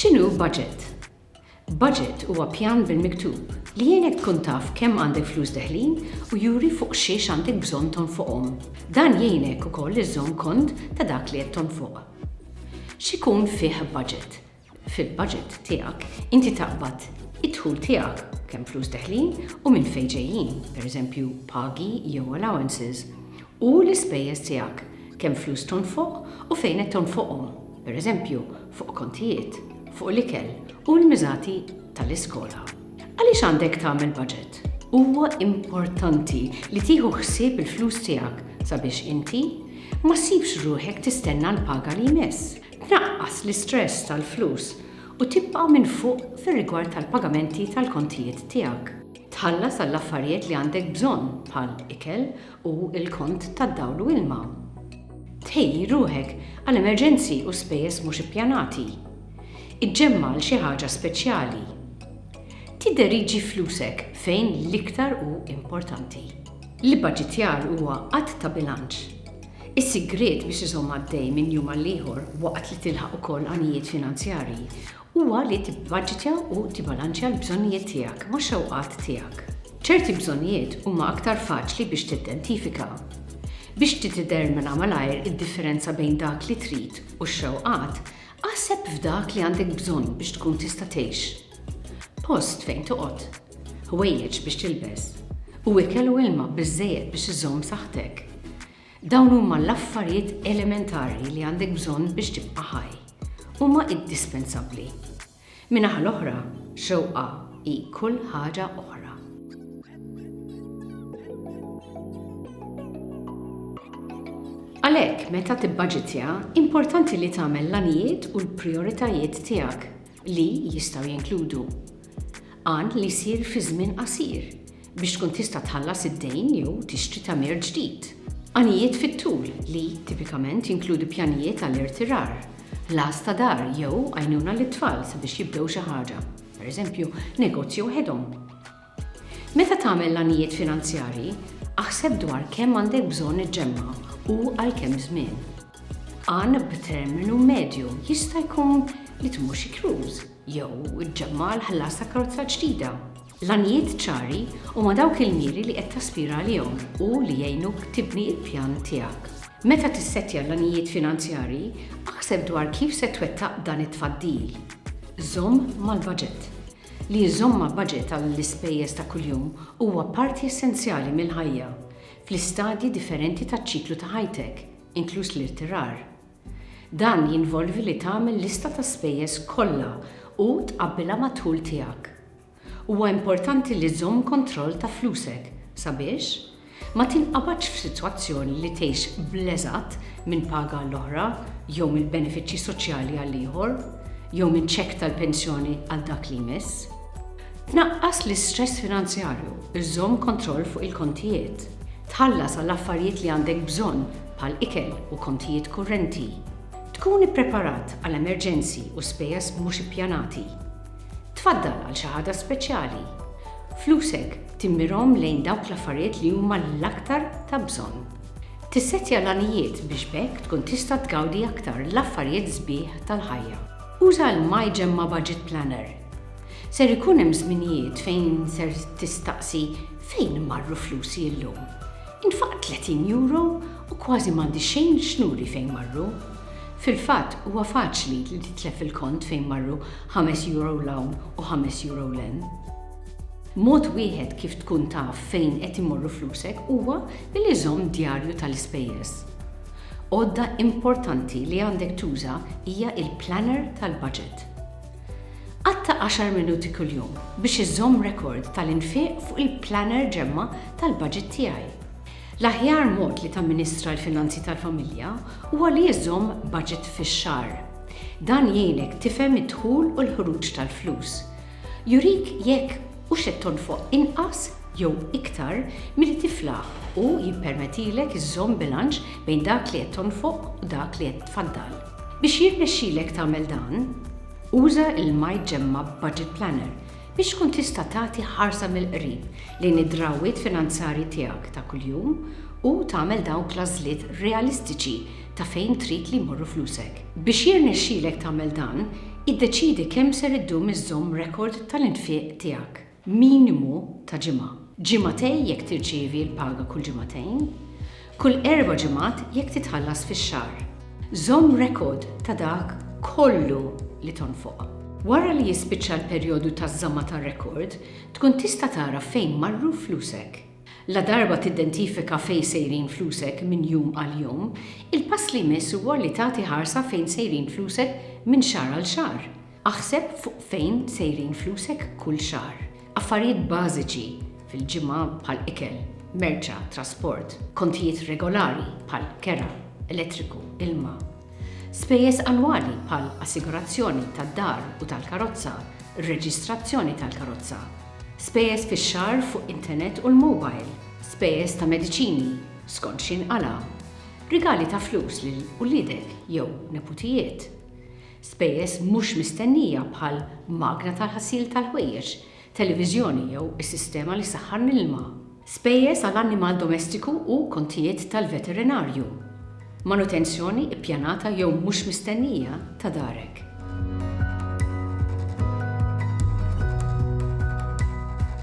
X'inhu budget? Budget huwa pjan bil-miktub li jgħinek tkun taf kemm għandek flus deħlin u juri fuq xiex għandek bżonn tonfoqhom. Dan jgħinek ukoll iżżomm kont ta' dak li qed tonfoq. X'ikun fih budget? fil-baġit tiegħek inti taqbad id-dħul tiegħek, kemm flus deħlin u minn fejn ġejjin, pereżempju pagi jew allowances, u l-ispejjeż tiegħek, kemm flus tonfoq u fejn qed tonfoqhom, pereżempju fuq kontijiet, fuq l-ikel u l-miżati tal-iskola. Għaliex għandek tagħmel baġit? Huwa importanti li tieħu ħsieb il-flus tiegħek sabiex inti ma ssibx ruħek tistenna l-paga li jmiss. tnaqqas l-istress tal-flus u tibqa' minn fuq fir-rigward tal-pagamenti tal-kontijiet tiegħek. Tħallas għall-affarijiet li għandek bżonn bħal ikel u l-kont tad-dawl u ilma. Tħejji ruħek għal emerġenzi u spejjeż mhux ippjanati. Iġġemma' għal xi ħaġa speċjali. Tidderieġi flusek fejn l-iktar hu importanti. L-ibbaġitjar huwa att ta' bilanċ. Is-sigriet biex iżomm għaddej minn jum għal ieħor waqt li tilħaq ukoll għanijiet finanzjarji huwa li tibbaġitja u tibalanċja l-bżonnijiet tiegħek max-xewqat tiegħek. Ċerti bżonnijiet huma aktar faċli biex tidentifika. Biex tiddetermina malajr id-differenza bejn dak li trid u x-xewqat, Aħseb f'dak li għandek bżonn biex tkun tista' tgħix, post fejn toqgħod, ħwejjeġ biex tilbes, u ikel u ilma biżżejjed biex iżżomm saħħtek. Dawn huma l-affarijiet elementari li għandek bżonn biex tibqa' ħaj. Huma indispensabbli. Min-naħa l-oħra, xewqa hi kull ħaġa oħra. Għalhekk, meta tibbaġitja, importanti li tagħmel l-għanijiet u l-prijoritajiet tiegħek, li jistgħu jinkludu għan li jsir fi żmien qasir, biex tkun tista' tħallas id-dejn jew tixtri tagħmir ġdid. Għanijiet fit-tul, li tipikament jinkludi pjanijiet għall-irtirar, ħlas ta' dar jew għajnuna lit-tfal sabiex jibdew xi ħaġa, pereżempju, negozju waħedhom. Meta tagħmel l-għanijiet finanzjarji, aħseb dwar kemm għandek bżonn iġġemma' u għal kemm żmien. Għan b'terminu medju jista' jkun li tmur xi cruise, jew iġġemma' għal ħlas ta' karozza ġdida. L-għanijiet ċari huma dawk il-miri li qed taspira għalihom u li jgħinuk tibni l-pjan tiegħek. Meta tissettja l-għanijiet finanzjarji, aħseb dwar kif se twettaq dan it-tfaddil. Żomm mal-baġit. Li żżomm ma' baġit għall-ispejjeż ta' kuljum huwa parti essenzjali mill-ħajja, fl-istadji differenti taċ-ċiklu ta' ħajtek, inkluż l-irtirar. Dan jinvolvi li tagħmel lista ta' spejjeż kollha u tqabbilha mad-dħul tiegħek. Huwa importanti li żżomm kontroll ta' flusek sabiex ma tinqabadx f'sitwazzjoni li tgħix bl-eżatt minn paga għall-oħra jew mill-benefiċċji soċjali għal ieħor jew minn ċekk tal-pensjoni għal dak li jmiss. Tnaqqas l-istress finanzjarju, żżomm kontroll fuq il-kontijiet. Tħallas għal affarijiet li għandek bżonn bħal ikel u kontijiet kurrenti, tkun ippreparat għal emerġenzi u spejjeż mhux ippjanati. Tfaddal għal xi ħaġa speċjali. Flusek timmirhom lejn dawk l-affarijiet li huma l-aktar ta' bżonn. Tissettja l-għanijiet biex b'hekk tkun tista' tgawdi aktar l-affarijiet sbieħ tal-ħajja. Uża l-My Gemma Budget Planner. Ser ikun hemm żminijiet fejn ser tistaqsi fejn marru flusi llum? Intfaqt 30 euro u kważi m'għandi xejn x'nuri fejn marru. Fil-fatt, huwa faċli li titlef il-kont fejn marru ħames euro 'l hawn u ħames euro 'l hemm. Mod wieħed kif tkun taf fejn qed imorru flusek huwa billi żomm djarju tal-ispejjeż. Għodda importanti li għandek tuża hija l-planner tal-baġit. Qatta' għaxar minuti kuljum biex iżżomm rekord tal-infiq fuq il-planner ġemma tal-baġit tiegħi. L-aħjar mod li tamministra l-finanzi tal-familja huwa li iżżomm baġit fix-xahar. Dan jgħinek tifhem id-dħul u l-ħruġ tal-flus. Jurik jekk hux qed tonfoq inqas jew iktar milli tiflaħ u jippermetilek iżżomm bilanċ bejn dak li qed tonfoq u dak li qed tfaddal. Biex jirnexxilek tagħmel dan, uża l-MyGemmUp Budget Planner biex tkun tista' tagħti ħarsa mill-qrib lejn id-drawwiet finanzjarji tiegħek ta' kuljum u tagħmel dawk l-għażliet realistiċi ta' fejn trid li jmorru flusek. Biex jirnexxilek tagħmel dan, iddeċiedi kemm ser iddum iżżomm rekord tal-infiq tiegħek. minimu ta' ġimgħa, ġimagħtej jekk tirċievi l-paga kull ġimagħtejn, kull erba' ġimgħat jekk titħallas fix-xahar. Żomm rekord ta' dak kollu li tonfoq. Wara li jispiċċa l-perjodu taż-żamma tar-rekord, tkun tista' tara fejn marru flusek. Ladarba tidentifika fejn sejrin flusek minn jum għal jum, il-pass li jmiss huwa li tagħti ħarsa fejn sejrin flusek minn xahar għal xahar. Aħseb fuq fejn sejrin flusek kull xahar. Affarijiet bażiċi fil-ġimgħa bħal ikel, merċa, trasport, kontijiet regolari bħal kera, elettriku, ilma. Spejjeż annwali bħal assigurazzjoni tad-dar u tal-karozza, reġistrazzjoni tal-karozza. Spejjeż fix-xahar fuq internet u l-mobile. Spejjeż ta' mediċini skont xi nqala'. Rigali ta' flus lil uliedek jew neputijiet. Spejjeż mhux mistennija bħal magna tal-ħasil tal-ħwejjeġ, televiżjoni jew is-sistema li ssaħħan l-ilma. Spejjeż għal annimal domestiku u kontijiet tal-veterinarju. Manutenzjoni ppjanata jew mhux mistennija ta' darek.